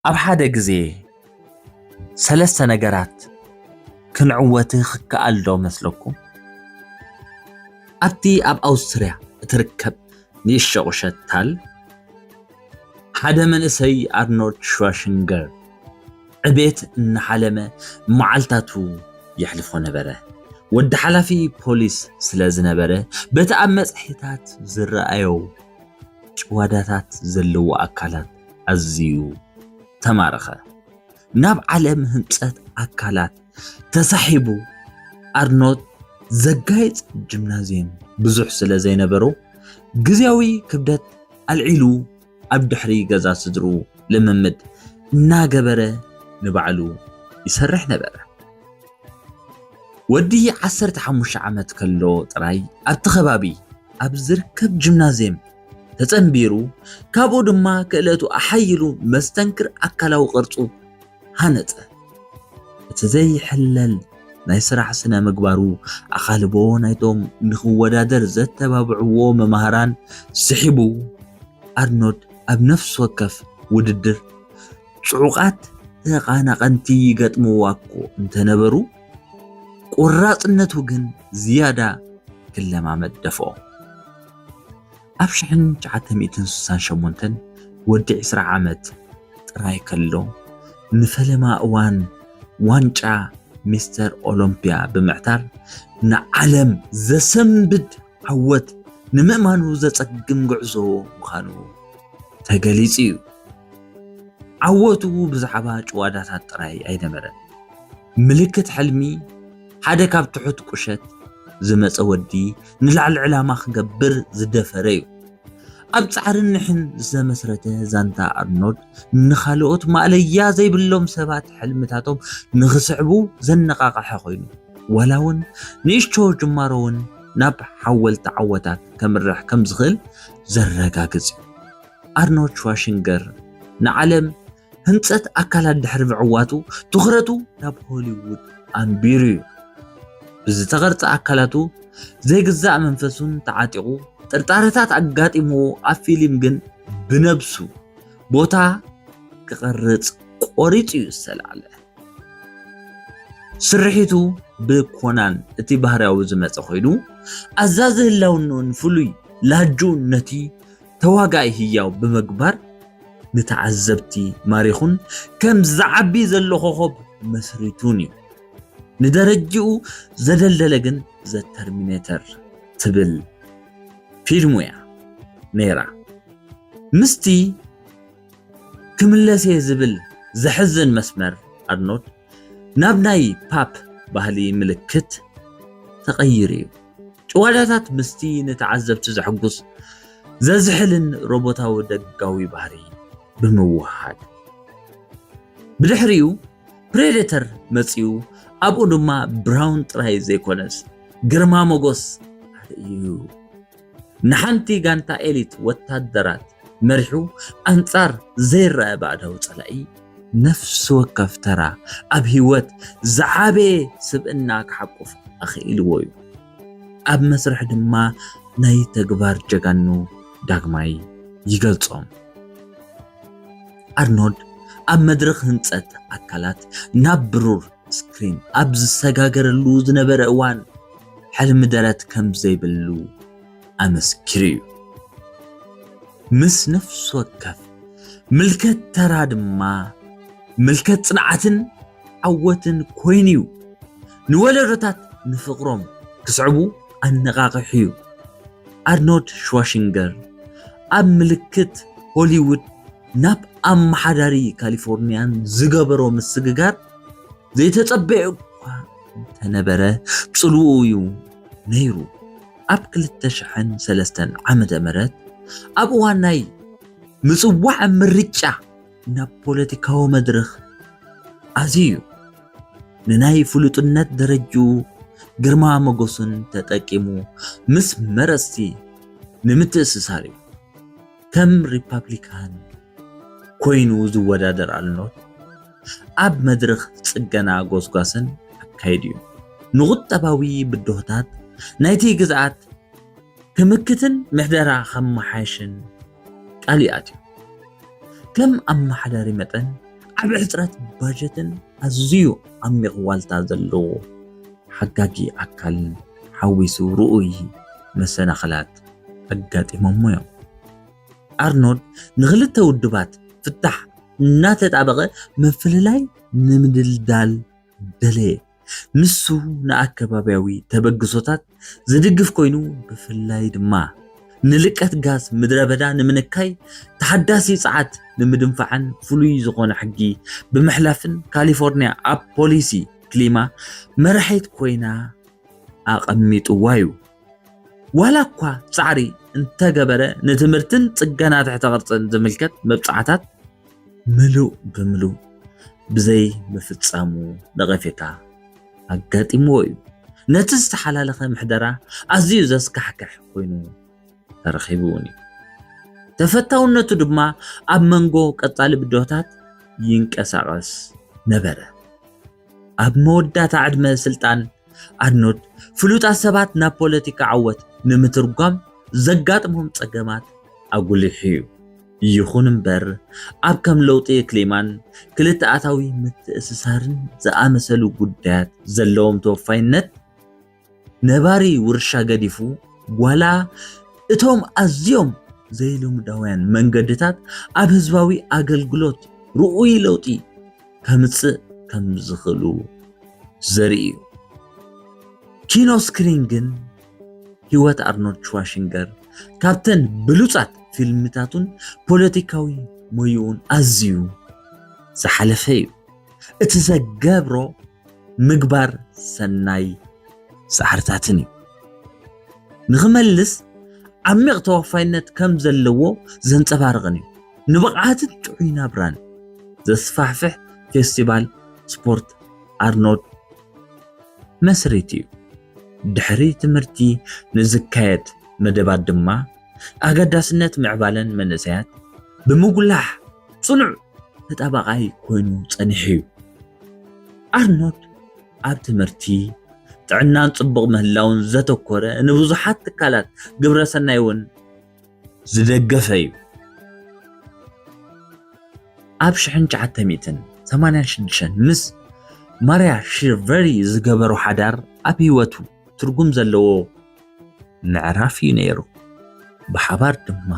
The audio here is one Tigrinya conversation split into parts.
ኣብ ሓደ ግዜ ሰለስተ ነገራት ክንዕወት ክከኣል ዶ መስለኩም? ኣብቲ ኣብ ኣውስትርያ እትርከብ ንእሽቶ ቁሸት ታል ሓደ መንእሰይ ኣርኖልድ ሽዋሽንገር ዕቤት እናሓለመ መዓልታቱ የሕልፎ ነበረ። ወዲ ሓላፊ ፖሊስ ስለ ዝነበረ በቲ ኣብ መጽሔታት ዝረኣዮ ጭዋዳታት ዘለዎ ኣካላት ኣዝዩ ተማረኸ። ናብ ዓለም ህንጸት ኣካላት ተሳሒቡ ኣርኖት ዘጋይጽ ጂምናዝየም ብዙሕ ስለ ዘይነበሮ ግዝያዊ ክብደት ኣልዒሉ ኣብ ድሕሪ ገዛ ስድርኡ ልምምድ እናገበረ ንባዕሉ ይሰርሕ ነበረ። ወዲ ዓሰርተ ሓሙሽተ ዓመት ከሎ ጥራይ ኣብቲ ከባቢ ኣብ ዝርከብ ጂምናዝየም ተጸንቢሩ፣ ካብኡ ድማ ክእለቱ ኣሓይሉ መስተንክር ኣካላዊ ቅርጹ ሃነጸ። እቲ ዘይሕለል ናይ ስራሕ ስነ ምግባሩ ኣኻልቦ ናይቶም ንኽወዳደር ዘተባብዕዎ መማህራን ስሒቡ፣ ኣርኖድ ኣብ ነፍሲ ወከፍ ውድድር ጽዑቓት ተቓናቐንቲ ይገጥምዋ'ኮ እንተነበሩ፣ ቈራጽነቱ ግን ዝያዳ ክለማመድ ደፍኦ። ኣብ ሽሕን ትሽዓተ ሚእትን ስሳን ሸሞንተን ወዲ ዕስራ ዓመት ጥራይ ከሎ፣ ንፈለማ እዋን ዋንጫ ሚስተር ኦሎምፒያ ብምዕታር ንዓለም ዘሰንብድ ዓወት ንምእማኑ ዘጸግም ጉዕዞ ምዃኑ ተገሊጹ'ዩ። ዓወቱ ብዛዕባ ጭዋዳታት ጥራይ ኣይነበረን፣ ምልክት ሕልሚ፣ ሓደ ካብ ትሑት ቁሸት ዝመጸ ወዲ ንላዕሊ ዕላማ ክገብር ዝደፈረ እዩ። ኣብ ጻዕርን ንሕን ዝተመስረተ ዛንታ ኣርኖልድ ንኻልኦት ማእለያ ዘይብሎም ሰባት ሕልምታቶም ንኽስዕቡ ዘነቓቕሐ ኮይኑ፣ ዋላ እውን ንእሽቶ ጅማሮ እውን ናብ ሓወልቲ ዓወታት ከምርሕ ከም ዝኽእል ዘረጋግጽ እዩ። ኣርኖልድ ሽዋሽንገር ንዓለም ህንጸት ኣካላት ድሕሪ ምዕዋቱ ትኹረቱ ናብ ሆሊውድ ኣንቢሩ እዩ። ብዝተቐርጸ ኣካላቱ ዘይግዛእ መንፈሱን ተዓጢቑ ጥርጣረታት ኣጋጢምዎ ኣብ ፊልም ግን ብነብሱ ቦታ ክቐርጽ ቆሪጹ እዩ ዝተላዕለ። ስርሒቱ ብኮናን እቲ ባህርያዊ ዝመጸ ኮይኑ ኣዛዚ ህላውንኡን ፍሉይ ላጁን ነቲ ተዋጋኣይ ህያው ብምግባር ንተዓዘብቲ ማሪኹን ከም ዝዓቢ ዘሎ ኮኾብ መስሪቱን እዩ። ንደረጅኡ ዘደልደለ ግን ዘ ተርሚነተር ትብል ፊልሙ እያ ነይራ። ምስቲ ክምለስ'የ ዝብል ዘሕዝን መስመር ኣርኖልድ ናብ ናይ ፓፕ ባህሊ ምልክት ተቐይሩ እዩ። ጭዋዳታት ምስቲ ንተዓዘብቲ ዘሕጉስ ዘዝሕልን ሮቦታዊ ደጋዊ ባህሪ ብምውህሃድ። ብድሕሪኡ ፕሬደተር መጺኡ፣ ኣብኡ ድማ ብራውን ጥራይ ዘይኮነስ ግርማ ሞጎስ ኣርእዩ። ንሓንቲ ጋንታ ኤሊት ወታደራት መሪሑ ኣንጻር ዘይረኣ ባእዳዊ ጸላኢ ነፍሲ ወከፍ ተራ ኣብ ህይወት ዝዓበየ ስብእና ክሓቁፍ ኣኽኢልዎ'ዩ። ኣብ መስርሕ ድማ ናይ ተግባር ጀጋኑ ዳግማይ ይገልጾም። ኣርኖልድ ኣብ መድረኽ ህንጸት ኣካላት ናብ ብሩር ስክሪን ኣብ ዝሰጋገረሉ ዝነበረ እዋን፣ ሕልሚ ደረት ከም ዘይብሉ ኣመስኪሩ'ዩ። ምስ ነፍሲ ወከፍ ምልከት ተራ ድማ ምልከት ጽንዓትን ዓወትን ኮይኑ'ዩ። ንወለዶታት ንፍቕሮም ክስዕቡ ኣነቓቒሑ'ዩ። ኣርኖልድ ሽዋሲንገር ኣብ ምልክት ሆሊውድ ናብ ኣመሓዳሪ ካሊፎርንያን ዝገበሮ ምስግጋር፣ ዘይተጸበዮ እኳ እንተነበረ ጽልውኡ'ዩ ነይሩ። ኣብ ክልተ ሽሕን ሰለስተን ዓመተ ምህረት ኣብ እዋን ናይ ምጽዋዕ ምርጫ ናብ ፖለቲካዊ መድርኽ ኣዝዩ ንናይ ፍሉጥነት ደረጅኡ ግርማ መጎሱን ተጠቂሙ ምስ መረጽቲ ንምትእስሳር እዩ። ከም ሪፓብሊካን ኮይኑ ዝወዳደር ኣልኖት ኣብ መድርኽ ጽገና ጎስጓስን ኣካይዱ እዩ። ንቁጠባዊ ብድሆታት ናይቲ ግዝኣት ክምክትን ምሕደራ ከመሓይሽን ቃል እዩ ኣትዩ። ከም ኣመሓዳሪ መጠን ዓቢ ሕጽረት ባጀትን ኣዝዩ ዓሚቕ ዋልታ ዘለዎ ሓጋጊ ኣካልን ሓዊሱ ርኡይ መሰናኽላት ኣጋጢሞሞ እዮም። ኣርኖልድ ንክልተ ውድባት ፍታሕ እናተጣበቐ ምፍልላይ ንምድልዳል ደለየ። ንሱ ንኣከባብያዊ ተበግሶታት ዝድግፍ ኮይኑ ብፍላይ ድማ ንልቀት ጋዝ ምድረ በዳ ንምንካይ ተሓዳሲ ጸዓት ንምድንፋዕን ፍሉይ ዝኾነ ሕጊ ብምሕላፍን ካሊፎርኒያ ኣብ ፖሊሲ ክሊማ መራሒት ኮይና ኣቐሚጥዋ እዩ። ዋላ እኳ ጻዕሪ እንተገበረ ንትምህርትን ጽገና ትሕተ ቅርጽን ዝምልከት መብጽዓታት ምሉእ ብምሉእ ብዘይ ምፍጻሙ ነቐፌታ ኣጋጢምዎ እዩ። ነቲ ዝተሓላለኸ ምሕደራ ኣዝዩ ዘስካሕክሕ ኮይኑ ተረኺቡ እውን እዩ። ተፈታውነቱ ድማ ኣብ መንጎ ቀጻሊ ብድሆታት ይንቀሳቐስ ነበረ። ኣብ መወዳእታ ዕድመ ስልጣን ኣርኖልድ፣ ፍሉጣት ሰባት ናብ ፖለቲካ ዓወት ንምትርጓም ዘጋጥሞም ጸገማት ኣጕሊሑ'ዩ። ይኹን እምበር፣ ኣብ ከም ለውጢ ክሊማን ክልተኣታዊ ምትእስሳርን ዝኣመሰሉ ጉዳያት ዘለዎም ተወፋይነት፣ ነባሪ ውርሻ ገዲፉ ዋላ እቶም ኣዝዮም ዘይልሙዳውያን መንገድታት ኣብ ህዝባዊ ኣገልግሎት ርኡይ ለውጢ ከምጽእ ከም ዝኽእሉ ዘርኢ እዩ። ኪኖ ስክሪን ግን ህይወት ኣርኖልድ ሽዋሽንገር ካብተን ብሉጻት ፊልምታቱን ፖለቲካዊ ሞይኡን ኣዝዩ ዝሓለፈ እዩ እቲ ዘገብሮ ምግባር ሰናይ ጻዕርታትን እዩ ንኽመልስ ዓሚቕ ተወፋይነት ከም ዘለዎ ዘንጸባርቕን እዩ። ንብቕዓትን ጥዑይ ናብራን ዘስፋሕፍሕ ፌስቲቫል ስፖርት ኣርኖልድ መስሪት እዩ። ድሕሪ ትምህርቲ ንዝካየድ መደባት ድማ ኣገዳስነት ምዕባለን መንእሰያት ብምጉላሕ ጽኑዕ ተጣባቓይ ኮይኑ ጸኒሑ'ዩ። ኣርኖልድ ኣብ ትምህርቲ፣ ጥዕናን ጽቡቕ ምህላውን ዘተኮረ ንብዙሓት ትካላት ግብረ ሰናይ እውን ዝደገፈ እዩ። ኣብ ሽሕን ትሽዓተ ሚእትን ሰማንያን ሽዱሽተን ምስ ማርያ ሺርቨሪ ዝገበሮ ሓዳር ኣብ ህይወቱ ትርጉም ዘለዎ ምዕራፍ እዩ ነይሩ። ብሓባር ድማ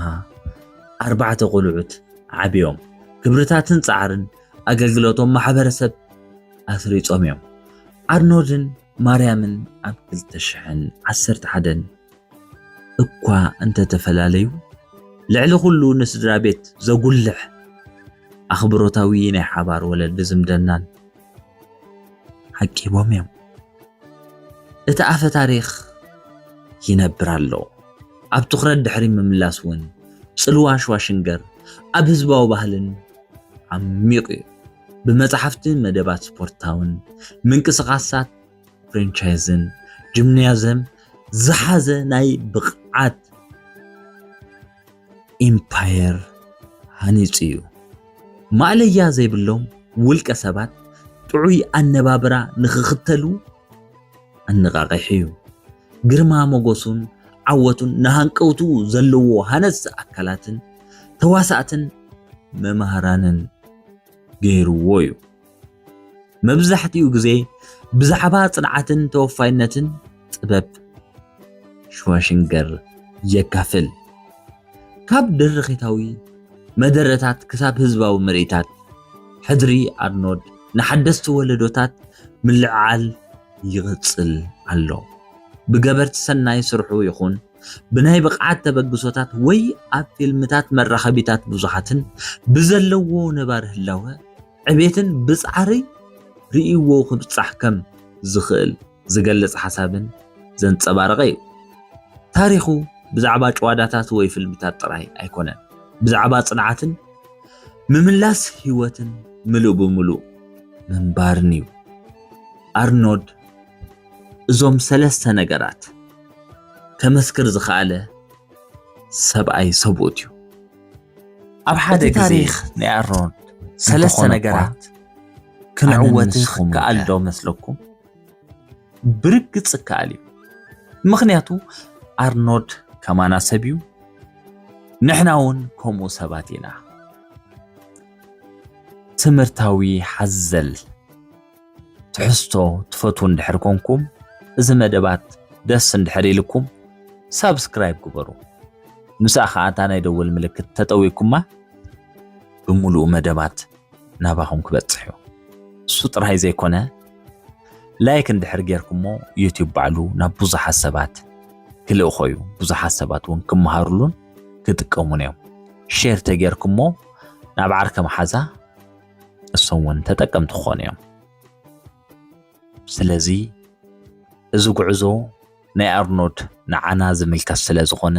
ኣርባዕተ ቆልዑት ዓብዮም ክብርታትን ጻዕርን ኣገልግሎቶም ማሕበረሰብ ኣስሪጾም እዮም። ኣርኖልድን ማርያምን ኣብ 2011 እኳ እንተተፈላለዩ ልዕሊ ኩሉ ንስድራ ቤት ዘጉልሕ ኣኽብሮታዊ ናይ ሓባር ወለዲ ዝምድናን ዓቂቦም እዮም። እቲ ኣፈ ታሪኽ ይነብር ኣሎ። ኣብ ትኹረት ድሕሪ ምምላስ እውን ጽልዋ ሽዋሽንገር ኣብ ህዝባዊ ባህልን ዓሚቑ እዩ። ብመጻሕፍቲ፣ መደባት ስፖርታውን ምንቅስቓሳት ፍሬንቻይዝን ጂምናዝየም ዝሓዘ ናይ ብቕዓት ኢምፓየር ሃኒጹ እዩ። ማእለያ ዘይብሎም ውልቀ ሰባት ጥዑይ ኣነባብራ ንኽኽተሉ ኣነቓቒሑ እዩ። ግርማ ሞገሱን ዓወቱን ንሃንቀውቱ ዘለዎ ሃነጽቲ ኣካላትን ተዋሳእትን መማህራንን ገይርዎ እዩ። መብዛሕትኡ ግዜ ብዛዕባ ጽንዓትን ተወፋይነትን ጥበብ ሽዋሽንገር የካፍል። ካብ ድርኺታዊ መደረታት ክሳብ ህዝባዊ ምርኢታት፣ ሕድሪ ኣርኖድ ንሓደስቲ ወለዶታት ምልዕዓል ይቕጽል ኣሎ። ብገበርቲ ሰናይ ስርሑ ይኹን ብናይ ብቕዓት ተበግሶታት ወይ ኣብ ፊልምታት መራኸቢታት ብዙሓትን ብዘለዎ ነባሪ ህላወ ዕቤትን ብጻዕሪ ርእይዎ ክብጻሕ ከም ዝኽእል ዝገልጽ ሓሳብን ዘንጸባረቐ እዩ። ታሪኹ ብዛዕባ ጭዋዳታት ወይ ፍልምታት ጥራይ ኣይኮነን፣ ብዛዕባ ጽንዓትን ምምላስ ህይወትን ምሉእ ብምሉእ ምንባርን እዩ። ኣርኖድ እዞም ሰለስተ ነገራት ከመስክር ዝኸኣለ ሰብኣይ ሰብኡት እዩ። ኣብ ሓደ ግዜ ታሪኽ ናይ ኣሮን ሰለስተ ነገራት ክንዕወት ክከኣል ዶ መስለኩም? ብርግጽ ክከኣል እዩ። ምክንያቱ ኣርኖድ ከማና ሰብ እዩ፣ ንሕና እውን ከምኡ ሰባት ኢና። ትምህርታዊ ሓዘል ትሕዝቶ ትፈትዉ እንድሕር ኮንኩም እዚ መደባት ደስ እንድሕር ኢልኩም ሳብስክራይብ ግበሩ ምስኣ ከዓ እታ ናይ ደወል ምልክት ተጠዊኩማ ብምሉኡ መደባት ናባኹም ክበፅሕ እዩ እሱ ጥራይ ዘይኮነ ላይክ እንድሕር ጌርኩሞ ዩትዩብ ባዕሉ ናብ ብዙሓት ሰባት ክልእኾ እዩ ብዙሓት ሰባት እውን ክመሃሩሉን ክጥቀሙን እዮም ሼር ተጌርኩሞ ናብ ዓርከ መሓዛ እሶም እውን ተጠቀምቲ ክኾኑ እዮም። ስለዚ እዚ ጉዕዞ ናይ ኣርኖድ ንዓና ዝምልከት ስለ ዝኾነ